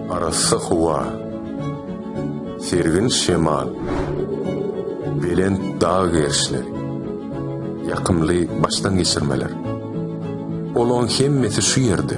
Arassa howa, sergin şemal, belent dag gerişleri, ýakymly başdan geçirmeler. Olaň hemmesi şu ýerde.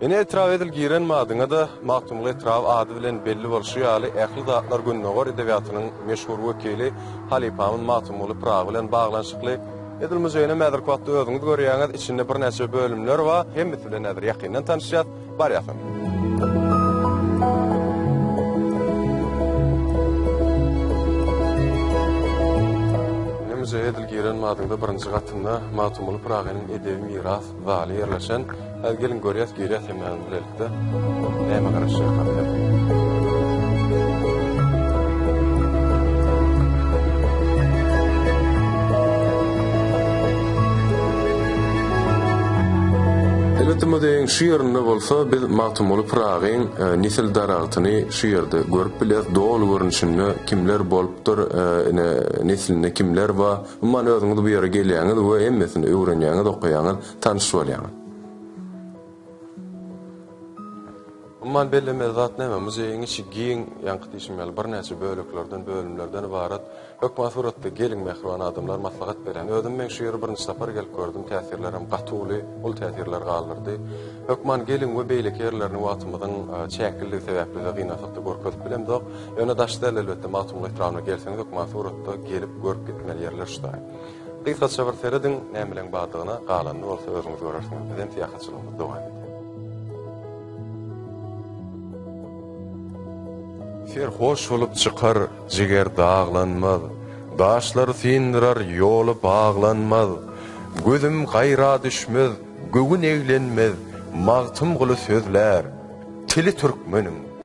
Ine etrap edil giren madyňa-da, Magtymguly etraby ady bilen belli bolşy ýaly, ähli zatlar gündogar edebiýatynyň meşhur wekili halypamyz Magtymguly Pyragy bilen baglanyşykly. Edil muzeýinem häzirki wagtda özüňiz görýäňiz, içinde birnäçe bölümler bar. Hemmesi bilen häzir ýakyndan tanyşýas. Barýasyn. Ine muzeýe edil giren madyňda birinji gatynda Magtymguly Pyragynyň edebi Miras zaly ýerleşen. Häzir geliň görýäs girýäs hemmämiz bilelikde. Näme garaşýarkam diýip. Elbetde muzeýiň şu ýerinde bolsa biz Magtymguly Pyragyň nesil daragtyny şu ýerde görüp bilýäs doly görnüşinde kimler bolupdyr ine neslinde kimler bar. Umman özüňiz bu ýere gelýäňiz we hemmesini öwrenýäňiz, okaýaňyz, tanyş bolýaňyz. Umman bellemeli zat näme? Muzeýiň içi giň, ýaňky diýşim ýaly birnäçe böleklerden, bölümlerden ybarat. Hökman suratda geliň mähriban adamlar maslahat berýän. Özüm men şu ýere birinji sapar gelip gördüm, täsirlerim gaty uly, uly täsirler galdyrdy. Hökman geliň we beýleki ýerlerini wagtymyzyň çäklidigi sebäpli-de gynansak-da görkezip bilemzok. Öne daş däl elbetde Magtymguly etrabna gelseňiz hökman suratda gelip görüp gitmeli ýerler şutaý. Gysgaça bir serediň nämeleň bardygyna galanyny bolsa özüňiz görersiňiz bizem syýahatçylygymyz dowam edýär. Ser hoş bolup çykar jiger daglanmaz Daşlar syndyrar ýoly baglanmaz Gözüm gaýra düşmez göwün eglenmez Magtymguly sözlär tili türkmeniň.